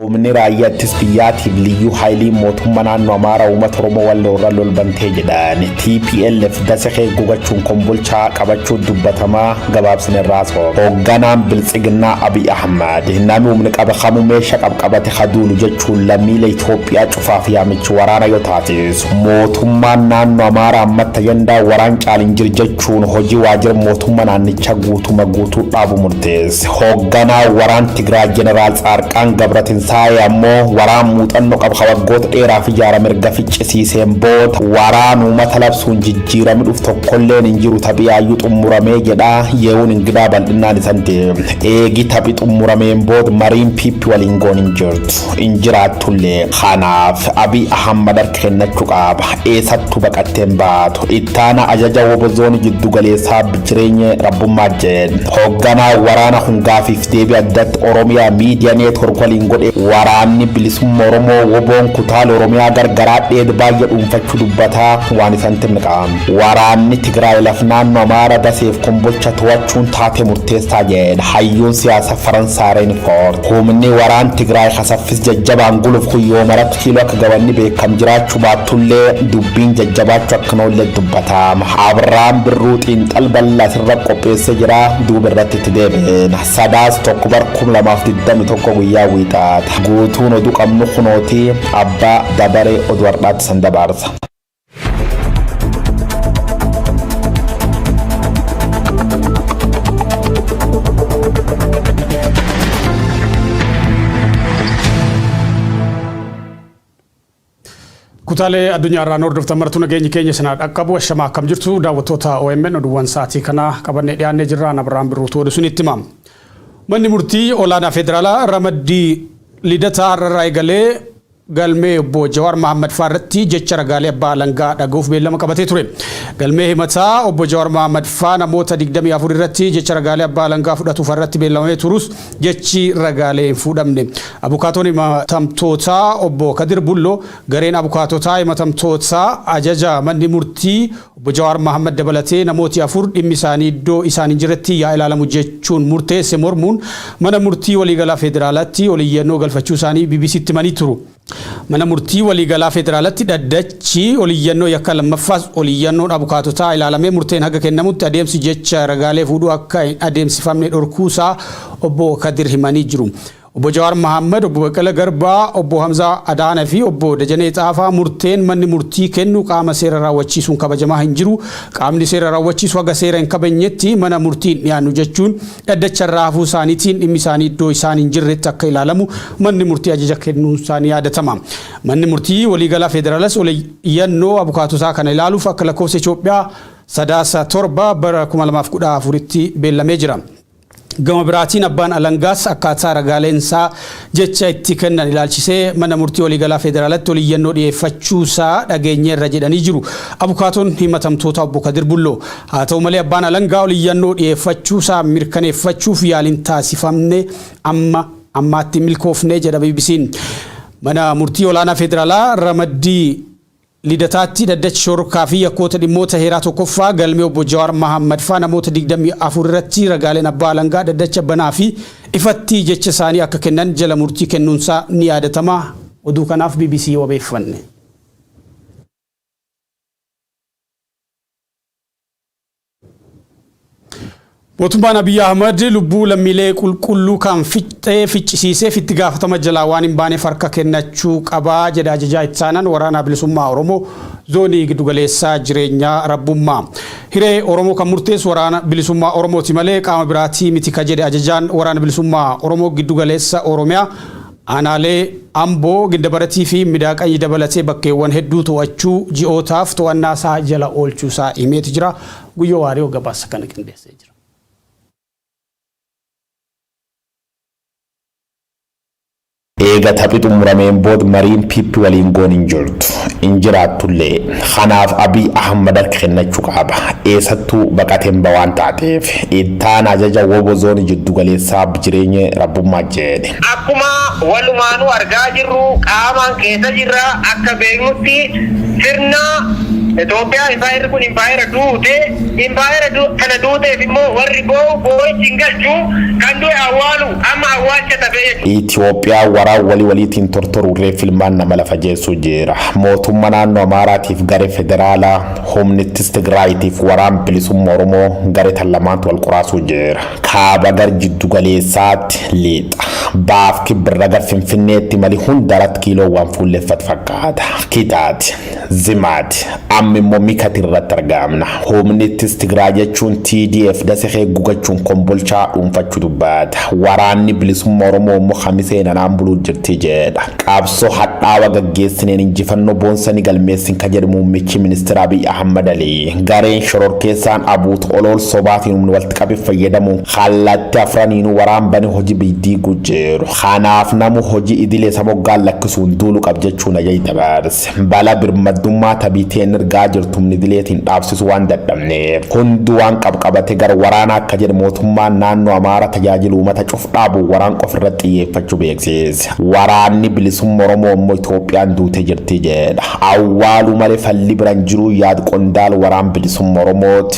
Humni raayyaa ittisa biyyaatiin liyyuu haayiliin mootummaa naannoo Amaaraa uummata Oromoo Walloo irra lolbantee jedhan TPLF dasakee gugachuun kombolchaa qabachuu dubbatamaa gabaabsine irraa soo. Hoogganaan Biltsiginnaa Abiy Ahmad namni humni qaba kamuu meeshaa qabqabate haduulu jechuun lammiilee Itoophiyaa cufaaf yaamichi waraana yoo taasisu mootummaan naannoo Amaaraa ammatta yandaa waraan caaliin jir jechuun hojii waajjira mootummaa naannichaa guutuma guutuu dhaabu murteesse. Hoogganaan waraan Tigraay Jeneraal Tsaarqaan Gabratinsaa'ee ammoo waraan muuxanno qab ka waggoota dheeraaf ijaarame erga ficcisiiseen booda waraan uumata labsuun jijjiirami dhuf tokkolleen hin jiru taphi yaayyuu xummuramee jedha Yehuun Ingidaa bal'innaan isan deemne. Eegi taphi xummurameen booda mariin PP waliin goon hin jirtu. Hin jiraattullee. Kanaaf Abiy Ahammad kennachu qaaba. Eesattu baqattee hin baatu. Ittaana ajaja wobo zooni jiddu galeessaa Bijireenye Rabbummaa Jen. Hoogganaa waraana kun gaafiif deebii addatti Oromia Media Network waliin godhe waraanni bilisumma Oromoo woboon kutaale Oromiyaa gargaraa dheed baayya dhuunfachu dubbata waan isan timqa. Waraanni Tigraay laf naanno Amaara Daseef Kombolcha towachuun taate murteessaa jen. Hayyuun siyaasa Faransaay Reinfort. Humni waraan Tigraay ka saffis jajjabaan guluf kun yoomarat Kiiloo akka gabanni beekam jiraachuu baattullee dubbiin jajjabaachuu akka hin oolle dubbata. Abrahaam Birruu xiinxal bal'aa sirra qopheessee jira duuba irratti itti deebi'eena. Sadaas tokko bar 2021 guyyaa wiixaata. Guutuun oduu qabnu kunooti abbaa dabaree oduu har'aatti san dabaarsa. Kutaalee addunyaa irraa hordoftan martuu nageenyi keenya isin haa dhaqqabu ashamaa akkam jirtu daawwattoota OMN oduuwwan sa'aatii kanaa qabannee dhiyaannee jirra Abrahaam Birruutu oduu isinitti hima. Manni murtii olaanaa federaalaa ramaddii lidataa har'arraa eegalee galmee Obbo Jawaar Mahaammad faa irratti jecha ragaalee abbaa alangaa dhaga'uuf beellama qabatee ture. Galmee himataa Obbo Jawaar Mahaammad faa namoota 24 irratti jecha ragaalee abbaa alangaa fudhatu faa irratti beellamamee turus jechi ragaalee hin fuudhamne. Abukaatoon himatamtootaa Obbo Kadir Bulloo gareen abukaatotaa himatamtootaa ajaja manni murtii Obbo Jawaar Mahaammad dabalatee namooti afur dhimmi isaanii iddoo isaan hin jirretti yaa ilaalamu jechuun murteesse mormuun Mana Murtii Waliigalaa Federaalatti ol iyyannoo galfachuu isaanii BBC'tti himanii turu. Mana Murtii Waliigalaa Federaalatti dhaddachi ol iyyannoo yakkaa lammaffaas ol iyyannoon abukaatotaa ilaalamee murteen haga kennamutti adeemsi jecha ragaalee fuudhuu akka hin adeemsifamne dhorkuu isaa Obbo Kadir himanii jiru. Obbo Jawaar Mahaammad, Obbo Baqqala Garbaa, Obbo Hamzaa Adaana fi Obbo Dajanee Xaafaa murteen manni murtii kennu qaama seera raawwachiisuun kabajamaa hin jiru, qaamni seera raawwachiisu haga seera hin kabajnetti mana murtii hin dhiyaannu jechuun dhaddacharraa hafuu isaaniitiin dhimmi isaanii iddoo isaan hin jirretti akka ilaalamu manni murtii ajaja kennuun isaa ni yaadatama. Manni murtii waliigalaa Federaalaas ol iyyannoo abukaatotaa kana ilaaluuf akka lakkoofsa Itoophiyaa Sadaasa 7 bara 2014tti beellamee jira. Gama biraatiin abbaan alangaas akkaataa ragaaleen isaa jecha itti kennan ilaalchisee Mana Murtii Waliigalaa Federaalatti ol iyyannoo dhiyeeffachuu isaa dhageenyeerra jedhanii jiru abukaatoon himatamtootaa Obbo Kadir Bulloo. Haa ta'u malee abbaan alangaa ol iyyannoo dhiyeeffachuu isaa mirkaneeffachuuf yaaliin taasifamne amma ammaatti hin milkoofne jedha BBC'n. Mana Murtii Olaanaa Federaalaa ramaddii. Lidataatti dhaddachi shororkaa fi yakkoota dhimmoota heeraa 1ffaa galmee obbo Jawaar Mahaammad faa namoota 24 irratti ragaaleen abbaa alangaa dhaddacha banaa fi ifatti jecha isaanii akka kennan jala murtii kennuun isaa ni yaadatama. Oduu kanaaf bbc wabeeffanne. Mootummaan Abiy Ahmad lubbuu lammiilee qulqulluu kan fixxee ficcisiiseef itti gaafatama jalaa waan hin baaneef harka kennachuu qaba jedha Ajajaa Ittaanaan Waraanaa Bilisummaa Oromoo Zoonii Giddugaleessaa Jireenyaa Rabbummaa. Hiree Oromoo kan murteessu Waraana Bilisummaa Oromooti malee qaama biraatii miti ka jedhe Ajajaan Waraana Bilisummaa Oromoo Giddugaleessa Oromiyaa Aanaalee Amboo, Gindabarat fi Midaaqany dabalatee bakkeewwan hedduu to'achuu ji'ootaaf to'annaasaa jala oolchuusaa himeeti jira. Guyyoo Waariyoo gabaasa kana qindeessee jira. Eega taphi xumurameen bood mariin PP waliin goon hin jirtu. Hin jiraattullee. Kanaaf Abiy Ahmad harka kennachuu qaba. Eessattuu baqateen ba waan taateef. Ittaana ajaja wbo zooni jiddugaleessaa Bjireenye Rabbummaa J. Akkuma walumaanuu argaa jirru qaamaan keessa jirra. Akka beeknutti sirna Itoophiyaa impaayerri kun impaayera duute. Impaayera tana duuteef immoo warri boo'u boo'ichi hin galchu. Kan du'e awwaalu amma awwaalcha tafe jechuudha. Itoophiyaa waraa wali waliitiin tortoru reeffi ilmaan nama lafa jeessu jiira. Mootumma naannoo Amaaraatiif gare federaalaa, humnittis Tigraayiitiif waraan bilisumma Oromoo gare tan lamaantu wal quraasuu jiira. Kaaba gar jiddu galeessaat liixa. Baaf kibbirra gar Finfinneetti mali hundarat kiiloon waan fuulleffat fakkaata. Kitaati. Zimaati. Amma immoo Mikati irratt argaamna. Humni ittis Tigraay jechuun TDF dase kee gugachuun Kombolchaa dhuunfachu dubbaata. Waraanni Bilisumma Oromoo immoo Kamisee nanaan buluut jirti jeedha. Qabsoo hadhaawa gaggeessineen injifannoo boonsa ni galmeessin ka jedhu muummichi ministira Abiy Ahmad Ali. Gareen shororkeessaan Abuut olool sobaatiin humni wal qabi fayyadamu kallaatti afraniinu waraan bane hoji biy diigu jiru kanaaf namu hoji idile sa moggaan lakkisuun duulu qab jechuun ajaj dabarse bala birmaddummaa ta biteen irgaa jirtu humni idileetiin dhaabsisu waan dadhabneef hundu waan qab qabate gar waraana akka jedhe mootummaan naannoo amaara tajaajilu umata cuf dhaabu waraan qof irra xiyyeeffachu beeksise waraanni bilisumma oromoo immoo itoophiyaan duute jirti jedha awwaalu male falli biran jiruu yaad qondaal waraan bilisumma oromooti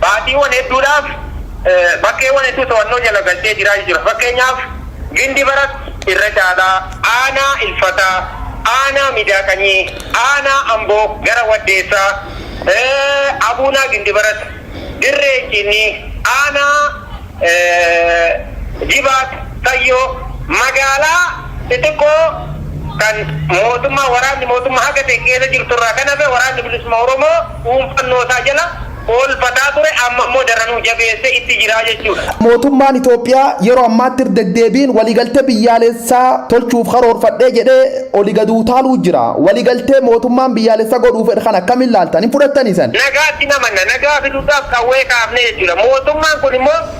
baatiiwwan hedduudhaaf bakkeewwan hedduu to'annoo jala galchee jiraachuu jira. Fakkeenyaaf Gindi Barat irra caalaa aanaa Ilfataa, aanaa Midaa Qanyii, aanaa Amboo gara Waddeessaa, Abuunaa Gindi Barat, Dirree Inciinnii, aanaa Jibaat Sayyoo, magaalaa xixiqqoo kan mootummaa waraanni mootummaa haga ta'e keessa jirtu irraa kan hafe waraanni bilisummaa Oromoo dhuunfannoo isaa jala oolfataa ture amma immoo daranuu jabeessee itti jira jechuudha. Mootummaan Itoophiyaa yeroo ammaatti irra deddeebiin waliigaltee biyyaalessaa tolchuuf karoorfadhe jedhee oli gad utaaluu jira. Waliigaltee mootummaan biyyaalessa godhuu fedhe kana akkamiin laaltan? Hin fudhattanii san? Nagaatti hin amanna. Nagaa fiduudhaaf qawwee kaafne jechuudha. Mootummaan kun immoo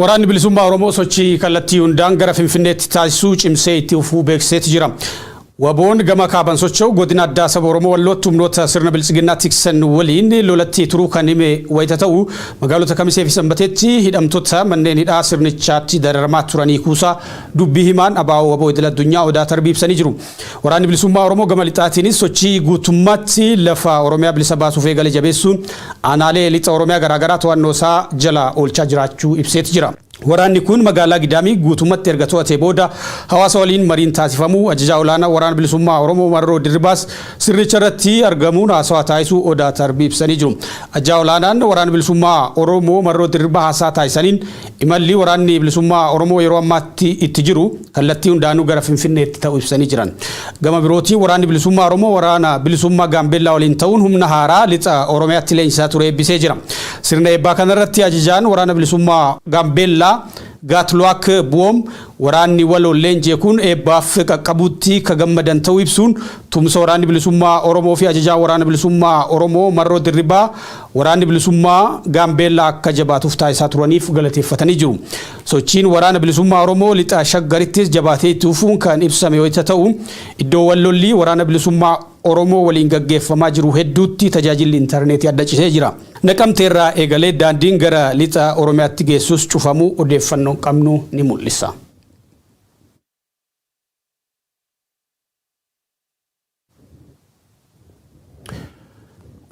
Waraanni Bilisummaa Oromoo sochii kallattii hundaan gara Finfinneetti taasisuu cimsee itti fufuu beeksiseeti jira. Waboon gama kaaban socho'u godina addaa saba Oromoo Wallootti humnoota sirna biltsiginnaa tiksan waliin lolatti turuu kan hime wayita ta'u, magaalota Kamisee fi Sanbateetti hidhamtoota manneen hidhaa sirnichaatti dararamaa turanii kuusaa dubbii himaan abo Waboo Idil Addunyaa Odaa Tarbii ibsanii jiru. Waraanni Bilisummaa Oromoo gama lixaatiinis sochii guutummaatti lafa Oromiyaa bilisa baasuuf eegale jabeessuun aanaalee lixa Oromiyaa garaagaraa to'annoo isaa jala oolchaa jiraachuu ibseeti jira. Waraanni kun magaalaa Gidaamii guutummatti erga to'atee booda hawaasa waliin mariin taasifamuu Ajajaa Olaanaa Waraana Bilisummaa Oromoo Marroo Dirribaas sirnicha irratti argamuun haasawaa taasisuu Odaa Tarbii ibsanii jiru. Ajajaa Olaanaan Waraana Bilisummaa Oromoo Marroo Dirribaa haasaa taasisaniin imalli Waraanni Bilisummaa Oromoo yeroo ammaatti itti jiru kallattii hundaanuu gara Finfinneetti ta'u ibsanii jiran. Gama birootiin Waraanni Bilisummaa Oromoo Waraana Bilisummaa Gaambeellaa waliin ta'uun humna haaraa Lixa Oromiyaatti leenjisaa ture eebbisee jira. Sirna eebbaa kanarratti Ajajaan Waraana Bilisummaa Gaambeellaa Gaatluwaak Buwoom waraanni waloon leenji'e kun eebbaaf qaqqabuutti ka gammadan ta'uu ibsuun tumsa Waraanni Bilisummaa Oromoo fi Ajajaan Waraana Bilisummaa Oromoo Marroo Dirribaa Waraanni Bilisummaa Gaambeellaa akka jabaatuuf taasisaa turaniif galateeffatanii jiru. Sochiin Waraana Bilisummaa Oromoo Lixa Shaggarittis jabaatee itti fufuun kan ibsame wayita ta'u, iddoowwan lolli Waraana Bilisummaa Oromoo waliin gaggeeffamaa jiru hedduutti tajaajilli intarneetii adda citee jira. Naqamteerraa eegalee daandiin gara Lixa Oromiyaatti geessus cufamuu odeeffannoon qabnu ni mul'isa.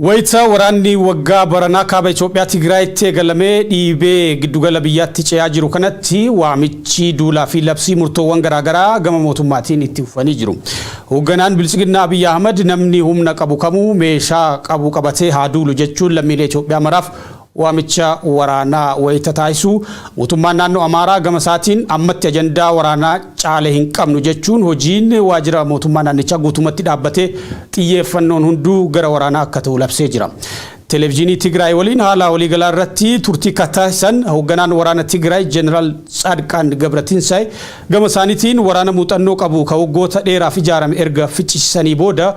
Wayita waraanni waggaa baranaa kaaba Itoophiyaa Tigraayitti eegalamee dhiibee giddugala biyyaatti ce'aa jiru kanatti waamichi duulaa fi labsii murtoowwan garaagaraa gama mootummaatiin itti fufanii jiru. Hoogganaan Biltsiginnaa Abiyyi Ahmad namni humna qabu kamuu meeshaa qabu qabatee haa duulu jechuun lammiilee Itoophiyaa maraaf Waamicha waraanaa wayita taasisu mootummaan naannoo Amaaraa gama isaatiin ammatti ajandaa waraanaa caale hin qabnu jechuun hojiin waajjira mootummaa naannichaa guutumatti dhaabbatee xiyyeeffannoon hunduu gara waraanaa akka ta'u labsee jira. Televijiinii Tigraay waliin haala waliigalaa irratti turtii ka taasisan hoogganaan waraana Tigraay Jeneraal Tsaadqaan Gabratinsaay gama isaaniitiin waraana muuxannoo qabu ka waggoota dheeraaf ijaarame erga ficcisiisanii booda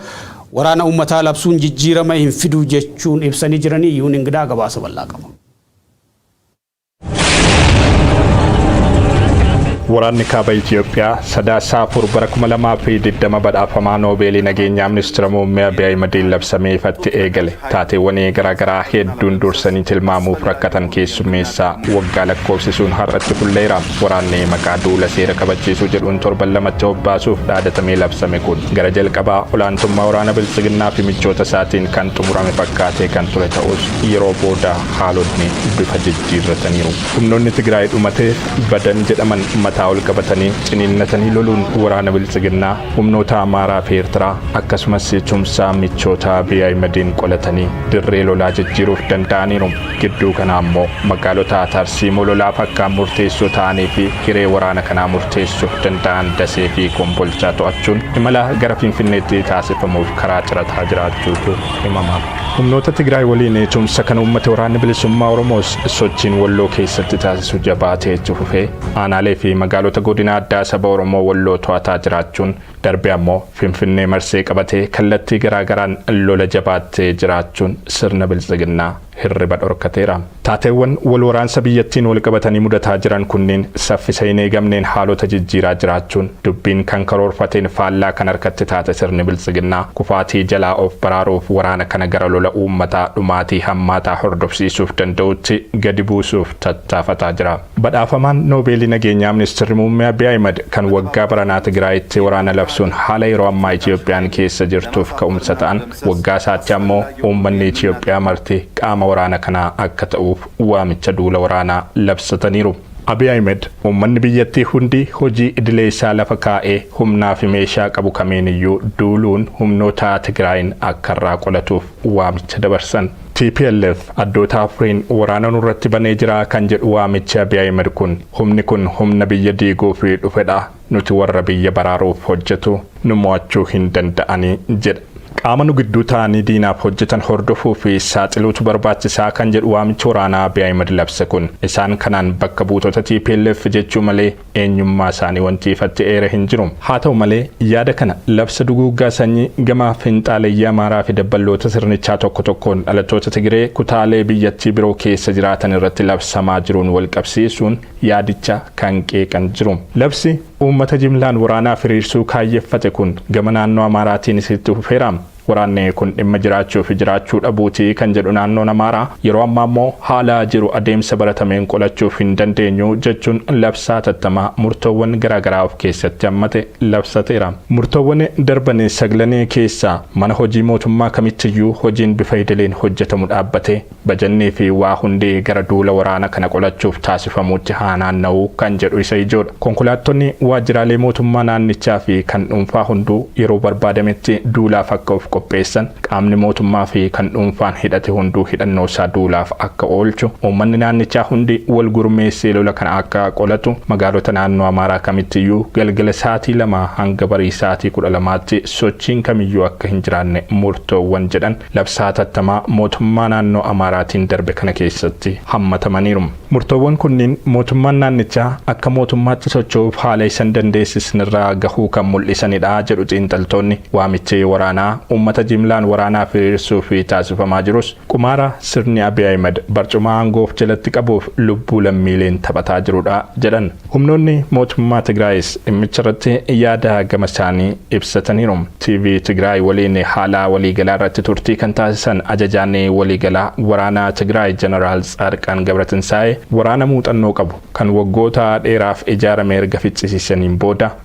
Waraana ummataa labsuun jijjiirama hin fidu jechuun ibsanii jiranii Yuun Ingidaa gabaasa bal'aa qaba. Waraanni kaaba Itoophiyaa sadaasa afur bara 2020 badhaafamaa Noobeelii nageenyaa ministeera muummee Abiy Ahimadiin labsamee ifatti eegale. Taateewwanii garaagaraa hedduun dursanii tilmaamuuf rakkatan keessummeessaa waggaa lakkoofsisuun har'atti fulleera. Waraanni maqaa duula seera kabachiisuu jedhuun torban lamatti hobbaasuuf dhaadatamee labsame kun gara jalqabaa olaantummaa waraana Biltsiginnaa fi michoota isaatiin kan xumurame fakkaatee kan ture ta'us yeroo booda haalotni bifa jijjiirrataniiru. Humnoonni Tigraay dhumate, badan jedhaman mataa ol qabatanii ciniinnatanii loluun waraana Biltsiginnaa, humnoota Amaaraa fi Eertiraa akkasumas tumsa michoota Abiy Ahimediin qolatanii dirree lolaa jijjiiruuf danda'aniiru. Gidduu kana ammoo magaalota tarsiimoo lolaaf akkaan murteessoo ta'anii fi hiree waraana kanaa murteessuuf danda'an Dasee fi Kombolchaa to'achuun imala gara Finfinneetti taasifamuuf karaa cirataa jiraachuutu himama. Humnoota Tigraay waliin tumsa kan uummate Waraanni Bilisummaa Oromoos sochiin Walloo keessatti taasisu jabaatee itti fufee aanaalee fi magaalota godina addaa saba Oromoo Walloo to'ataa jiraachuun Darbee ammoo Finfinnee marsee qabatee kallattii garaa garaan lola jabaattee jiraachuun sirna Biltsiginnaa hirriba dhorkateera. Taateewwan wal waraansa biyyattiin wal qabatanii mudataa jiran kunniin saffisa hin eegamneen haalota jijjiiraa jiraachuun dubbiin kan karoorfateen faallaa kan harkatti taate sirni Biltsiginnaa kufaatii jalaa of baraaruuf waraana kana gara lola uummataa dhumaatii hammaataa hordofsiisuuf danda'utti gadi buusuuf tattaafataa jira. Badhaafamaan Noobeelii Nageenyaa Ministirri Muummee Abiy Ahimad kan waggaa baranaa Tigraayitti waraana labsuun haala yeroo ammaa Itiyoophiyaan keessa jirtuuf ka'umsa ta'an, waggaa isaatti ammoo uummanni Itiyoophiyaa marti qaama waraana kanaa akka ta'uuf waamicha duula waraanaa labsataniiru. Abiy Ahimad uummanni biyyattii hundi hojii idilee isaa lafa kaa'ee humnaafi meeshaa qabu kamiiniyyuu duuluun humnoota Tigraayiin akka irraa qolatuuf waamicha dabarsan. Tplf addoota afuriin waraana nurratti banee jira kan jedhu waamichi Abiy Ahimed kun humni kun humna biyya diiguuf dhufedha, nuti warra biyya baraaruuf hojjetu, nu mo'achuu hin danda'ani jedha. Qaama nu gidduu taa'anii diinaaf hojjetan hordofuu fi saaxiluutu barbaachisaa kan jedhu waamichi waraanaa Abiy Ahimed labse kun isaan kanaan bakka buutota tplf jechuu malee eenyummaa isaanii wanti ifatti eere hin jiru. Haa ta'u malee, yaada kana labsa duguuggaa sanyii gama finxaaleyyii Amaaraa fi dabballoota sirnichaa tokko tokkoon dhalattoota Tigiree kutaalee biyyattii biroo keessa jiraatan irratti labsamaa jiruun wal qabsiisuun yaadicha kan qeeqan jiru. Labsi uummata jimlaan waraanaaf hiriirsuu kaayyeffate kun gama naannoo Amaaraatiinis itti fufeera. Waraanni kun dhimma jiraachuufi jiraachuu dhabuuti kan jedhu naannoon Amaaraa, yeroo ammaa immoo haala jiru adeemsa baratameen qolachuuf hin dandeenyu jechuun labsa hatattamaa murtoowwan garaagaraa of keessatti hammate labsateera. Murtoowwan darban saglan keessaa mana hojii mootummaa kamittiyyuu hojiin bifa idileen hojjetamu dhaabbatee Bajannii fi waa hundi gara duula waraana kana qolachuuf taasifamuutti haa naanna'u kan jedhu isa ijoodha. Konkolaattonni waajjiraalee mootummaa naannichaa fi kan dhuunfaa hunduu yeroo barbaadametti duulaaf akka of qopheessan, qaamni mootummaa fi kan dhuunfaan hidhate hunduu hidhannoo isaa duulaaf akka oolchu, uummanni naannichaa hundi wal gurmeessee lola kana akka qolatu, magaalota naannoo Amaaraa kamittiyyuu galgala sa'aatii lamaa hanga barii sa'aatii kudha lamaatti sochiin kamiyyuu akka hin jiraanne murtoowwan jedhan Labsaa hatattamaa mootummaa naannoo Amaaraatiin darbe kana keessatti hammatamaniiru. Murtoowwan kunniin mootummaan naannichaa akka mootummaatti socho'uuf haala isa hin dandeessisnerra gahuu kan mul'isanidha jedhu xiinxaltoonni. Waamichi waraanaa uummata jimlaan waraanaaf hiriirsuuf taasifamaa jirus qumaara sirni Abiy Ahimed barcuma aangoo of jalatti qabuuf lubbuu lammiileen taphataa jirudha jedhan. Humnoonni mootummaa Tigraayis dhimmicharratti yaada gamasaanii ibsataniiru. TV Tigraay waliin haala waliigalaarratti turtii kan taasisan Ajajaan Waliigalaa Waraanaa Tigraay Janaraal Tsaadqaan Gabratinsaa'ee, waraana muuxannoo qabu, kan waggoota dheeraaf ijaarame erga ficcisiisaniin booda,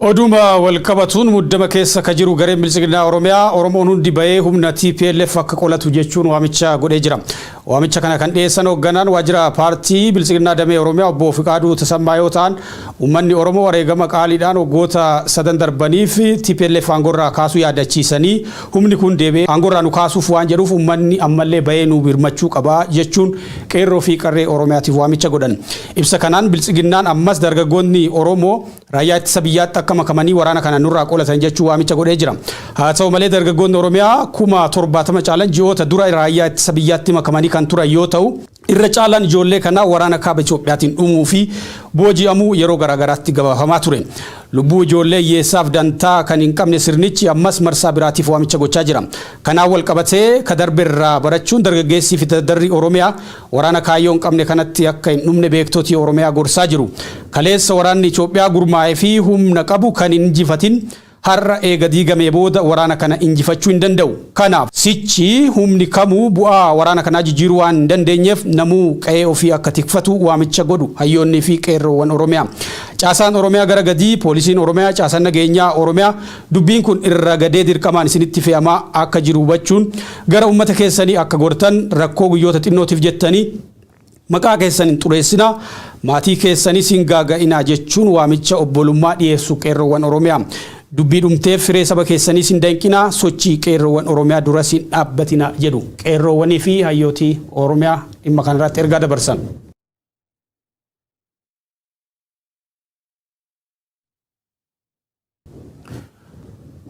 Oduuma walqabatuun muddama keessa ka jiru gareen Biltsiginnaa Oromiyaa Oromoon hundi bahee humna tplf akka qolatu jechuun waamicha godhee jira. Waamicha kana kan dhiyeessan hoogganaan waajjira paartii Biltsiginnaa damee Oromiyaa obbo Fiqaaduu Tasammaa yoo ta'an, uummanni Oromoo wareegama qaaliidhaan waggoota sadan darbaniif tplf aangorraa kaasuu yaadachiisanii humni kun deebi'ee aangorraa nu kaasuuf waan jedhuuf uummanni ammallee bahee nu birmachuu qaba jechuun qeerroo fi qarree Oromiyaatiif waamicha godhan. Ibsa kanaan Biltsiginnaan ammas dargaggootni Oromoo Raayyaa Ittisa Biyyaatti akka makamanii waraana kana nurraa qolatan jechuun waamicha godhee jira. Haa ta'u malee dargaggootni Oromiyaa kuma 70 caalan ji'oota dura Raayyaa Ittisa Biyyaatti makamanii kan turan yoo ta'u, irra caalaan ijoollee kanaa waraana Kaaba Itoophiyaatiin dhumuu fi booji'amuu yeroo garaa garaatti gabaafamaa ture. Lubbuu ijoollee hiyyeessaaf dantaa kan hin qabne sirnichi ammas marsaa biraatiif waamicha gochaa jira. Kanaan walqabatee ka darberraa barachuun dargaggeessii Fitaddarri Oromiyaa Waraana kaayyoo hin qabne kanatti akka hin dhumne beektoti Oromiyaa gorsaa jiru. Kaleessa waraanni Itoophiyaa gurmaa'e fi humna qabu kan hin injifatin har'a eega diigamee booda waraana kana injifachuu hin danda'u. Kanaaf, sichi humni kamuu bu'aa waraana kanaa jijjiiruu waan hin dandeenyeef namuu qa'ee ofii akka tikfatu waamicha godhu hayyoonnii fi qeerroowwan Oromiyaa. Caasaan Oromiyaa gara gadii, Poolisiin Oromiyaa, Caasaan Nageenyaa Oromiyaa, Dubbiin kun irra gadee dirqamaan isinitti fe'amaa akka jiru hubachuun gara ummata keessanii akka gortan rakkoo guyyoota xinnootiif jettanii maqaa keessan hin xureessinaa, maatii keessanis hin gaaga'inaa jechuun waamicha obbolummaa dhiyeessu Qeerroowwan Oromiyaa. Dubbii dhumteef hiree saba keessaniis hin danqinaa, sochii Qeerroowwan Oromiyaa duras hin dhaabbatinaa jedhu Qeerroowwanii fi Hayyooti Oromiyaa dhimma kana irratti ergaa dabarsan.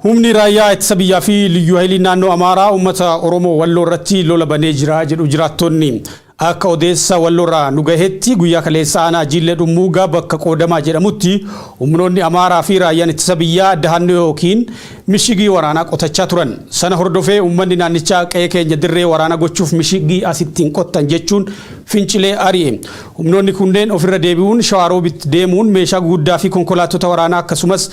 Humni Raayyaa Ittisa Biyyaa fi Liyyuu Hayiliin Naannoo Amaaraa uummata Oromoo Walloo irratti lola banee jira jedhu jiraattonni. Akka odeessa Walloorraa nu gahetti guyyaa kaleessa aanaa Jiillee Dhummuugaa bakka Qoodamaa jedhamutti humnoonni Amaaraa fi Raayyaan Ittisa Biyyaa dahannoo yookiin mishigii waraanaa qotachaa turan. Sana hordofee uummanni naannichaa qe'ee keenya dirree waraanaa gochuuf mishigii asitti hin qottan jechuun fincilee ari'e. Humnoonni kunneen ofirra deebi'uun Shawaa Roobit deemuun meeshaa guguddaa fi konkolaattota waraanaa akkasumas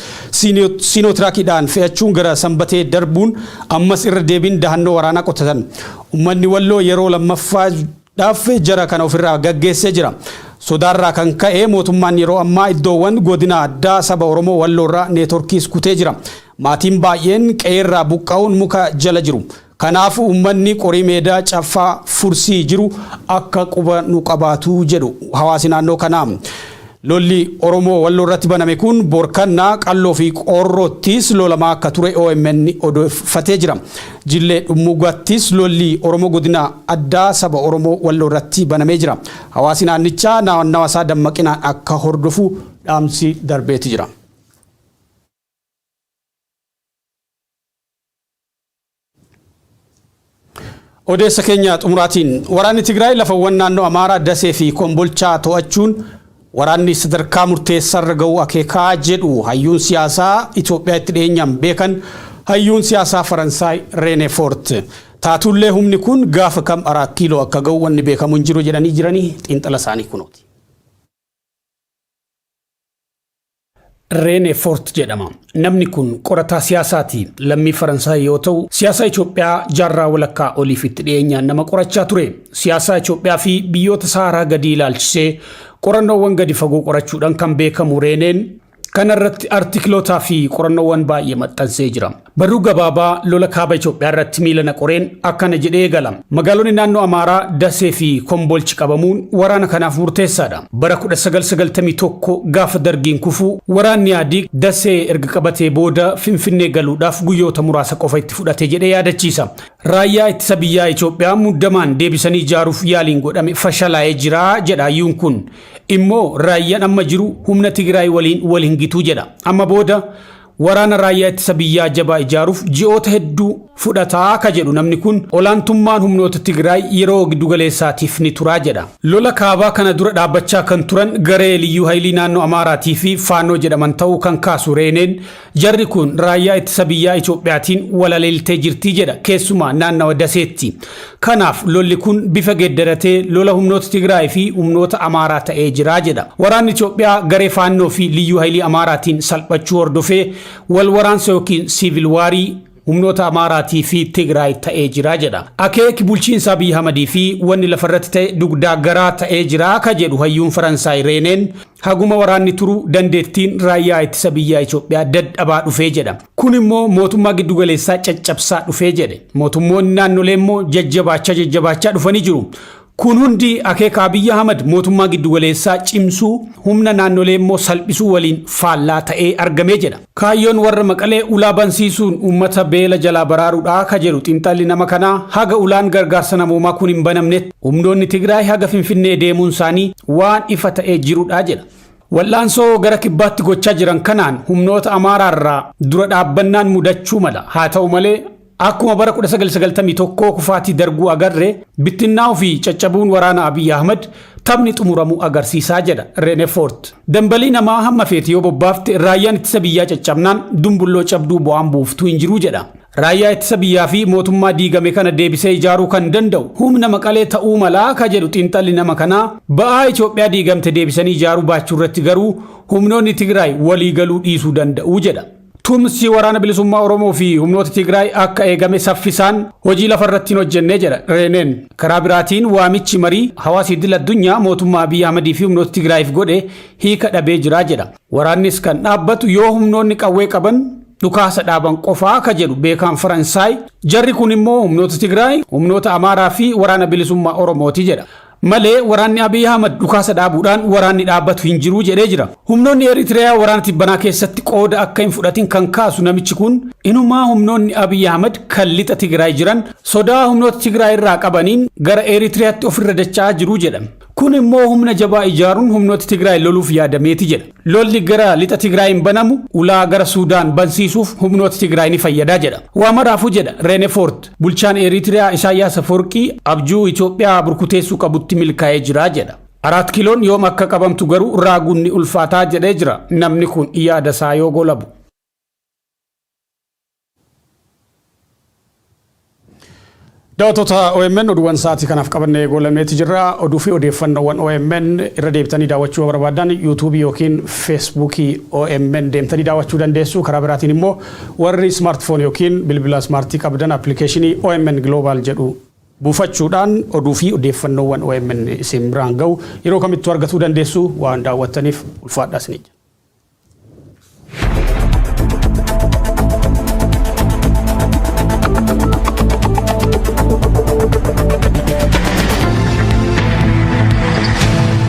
Siinootiraakidhaan fe'achuun gara Sanbatee darbuun ammas irra deebiin dahannoo waraanaa qotatan. Ummanni Walloo yeroo lammaffaadhaaf jara kana ofirraa gaggeessee jira. Sodaarraa kan ka'e mootummaan yeroo ammaa iddoowwan godina addaa saba Oromoo Walloorraa neetworkiis kutee jira. Maatiin baay'een qe'eerraa buqqa'uun muka jala jiru. Kanaaf uummanni Qorii Meedaa, Caffaa, Fursii jiru akka quba nu qabaatu jedhu hawaasi naannoo kanaa. Lolli Oromoo Walloo irratti baname kun Borkannaa, Qalloo fi Qoorroottis lolamaa akka ture omn odeeffatee jira. Jillee Dhummuugattis lolli Oromoo Godina Addaa Saba Oromoo Walloo irratti banamee jira. Hawaasi naannichaa naannawa isaa dammaqinaan akka hordofu dhaamsi darbeeti jira. Odeessa keenya xumuraatiin waraanni Tigraay lafawwan naannoo Amaaraa Dasee fi Kombolchaa to'achuun waraanni sadarkaa murteessaarra ga'uu akeeka jedhu hayyuun siyaasaa Itoophiyaa itti dhiyeenyaan beekan hayyuun siyaasaa Faransaay Reenee Foort. Taatullee humni kun gaafa kam Araat Kiiloo akka ga'u wanni beekamu hin jiru jedhanii jiranii xiinxala isaanii kunooti. Reene Foort jedhama. Namni kun qorataa siyaasaati. Lammii Faransaay yoo ta'u, siyaasaa Itoophiyaa jaarraa walakkaa oliif itti dhiyeenyaan nama qorachaa ture. Siyaasaa Itoophiyaa fi biyyoota Sahaaraa gadii ilaalchisee qorannoowwan gadi fagoo qorachuudhaan kan beekamu Reeneen, Kana irratti artikiloota fi qorannoowwan baay'ee maxxansee jira. Barruu gabaabaa lola kaaba Itoophiyaa irratti miila na qoreen akkana jedhee eegala. Magaalonni naannoo Amaaraa Dasee fi Kombolchi qabamuun waraana kanaaf murteessaa dha. Bara 1991 gaafa Dargiin kufu waraanni Ihadiig Dasee erga qabatee booda Finfinnee galuudhaaf guyyoota muraasa qofa itti fudhate jedhee yaadachiisa. Raayyaa Ittisa Biyyaa Itoophiyaa muddamaan deebisanii ijaaruuf yaaliin godhame fashalaa'ee jira jedha hayyuun kun. immoo raayyan amma jiru humna Tigiraay waliin wal hin gitu jedha. Amma booda waraana raayyaa ittisa biyyaa jabaa ijaaruuf ji'oota hedduu fudhata ka jedhu namni kun olaantummaan humnoota Tigiraay yeroo giddugaleessaatiif ni tura jedha. Lola kaabaa kana dura dhaabbachaa kan turan garee Liyyuu Hayilii Naannoo Amaaraatii fi Faannoo jedhaman ta'uu kan kaasu Reeneen, Jarri kun raayyaa ittisa biyyaa Itoophiyaatiin walaleeltee jirti jedha keessumaa naannawa Daseetti. Kanaaf lolli kun bifa geeddaratee lola humnoota Tigraay fi humnoota Amaaraa ta'ee jira jedha. Waraanni Itoophiyaa garee Faannoo fi Liyyuu Hayilii Amaaraatiin salphachuu hordofee wal waraansa ykn siivil waarii humnoota Amaaraatii fi Tigraay ta'ee jira jedha. Akeeki bulchiinsa Abiy Ahmadii fi wanni lafarratti ta'e dugdaa garaa ta'ee jira ka jedhu hayyuun Faransaay Reeneen, haguma waraanni turu dandeettiin raayyaa ittisa biyyaa Itoophiyaa dadhabaa dhufee jedha. Kun immoo mootummaa giddugaleessaa caccabsaa dhufee jedhe. Mootummoonni naannolee immoo jajjabaachaa jajjabaachaa dhufanii jiru. Kun hundi akeeka Abiy Ahmad mootummaa giddugaleessaa cimsuu, humna naannolee immoo salphisuu waliin faallaa ta'ee argame jedha. Kaayyoon warra Maqalee ulaa bansiisuun uummata beela jalaa baraaruudha ka jedhu xinxalli nama kanaa, haga ulaan gargaarsa namoomaa kun hin banamnetti humnoonni Tigraay haga Finfinnee deemuun isaanii waan ifa ta'ee jirudha jedha. Wal'aansoo gara kibbaatti gochaa jiran kanaan humnoota Amaaraa irraa dura dhaabbannaan mudachuu mala. Haa ta'u malee Akkuma bara 1991 kufaatii Darguu agarre, bittinnaa'uu fi caccabuun waraana Abiy Ahmad taphni xumuramu agarsiisa jedha Renefort. Dambalii namaa hamma feete yoo bobbaafte raayyaan ittisa biyyaa caccabnaan dumbulloo cabduu bu'aan buuftu hin jiru jedha. Raayyaa ittisa biyyaa fi mootummaa diigame kana deebisee ijaaruu kan danda'u humna Maqalee ta'uu mala ka jedhu xiinxalli nama kanaa, ba'aa Itoophiyaa diigamte deebisanii ijaaruu baachuurratti garuu humnoonni Tigraay waliigaluu dhiisuu danda'u jedha. Tumsi Waraana Bilisummaa Oromoo fi humnoota Tigraay akka eegame saffisaan hojii lafa irratti hin hojjenne jedha Reeneen. Karaa biraatiin waamichi marii hawaasa idil addunyaa mootummaa Abiy Ahmad fi humnoota Tigraayiif godhe hiika dhabee jira jedha. Waraannis kan dhaabbatu yoo humnoonni qawwee qaban dhukaasa dhaaban qofaa ka jedhu beekaan Faransaay, jarri kun immoo humnoota Tigraay, humnoota Amaaraa fi Waraana Bilisummaa Oromooti jedha. Malee waraanni Abiy Ahmad dhukaasa dhaabuudhaan waraanni dhaabbatu hin jiru jedhee jira. Humnoonni Eritreyaa waraana tibbanaa keessatti qooda akka hin fudhatin kan kaasu namichi kun inumaa humnoonni Abiy Ahmad kan lixa Tigraay jiran sodaa humnoota Tigraay irraa qabaniin gara Eritreyaatti ofirra dacha'aa jiru jedha. Kun immoo humna jabaa ijaaruun humnoota Tigraay loluuf yaadameeti jedha. Lolli gara lixa Tigraayiin banamu ulaa gara Suudaan bansiisuuf humnoota Tigraay ni fayyada jedha. Waa maraafuu jedha Reenefoort. Bulchaan Eritrea Isaayyaas Afoorqii abjuu Itoophiyaa burkuteessuu qabutti milkaa'ee jira jedha. Araat Kiloon yoom akka qabamtu garuu raaguun ni ulfaataa jedhee jira namni kun yaada isaa yoo golabu. Daawwattoota OMN oduuwwan sa'aatii kanaaf qabannee goolameeti jirra. Oduu fi odeeffannoowwan OMN irra deebitanii daawwachuu barbaadan yuutuubii yookiin feesbuukii OMN deemtanii daawwachuu dandeessu. Karaa biraatiin immoo Warri smartphone ykn bilbila smartii qabdan applicationii omn global jedhu. buufachuudhaan oduu fi odeeffannoowwan omn isin biraan ga'u yeroo kamittuu argatuu dandeessu. Waan daawwattaniif ulfaadhaa isiniin jenna.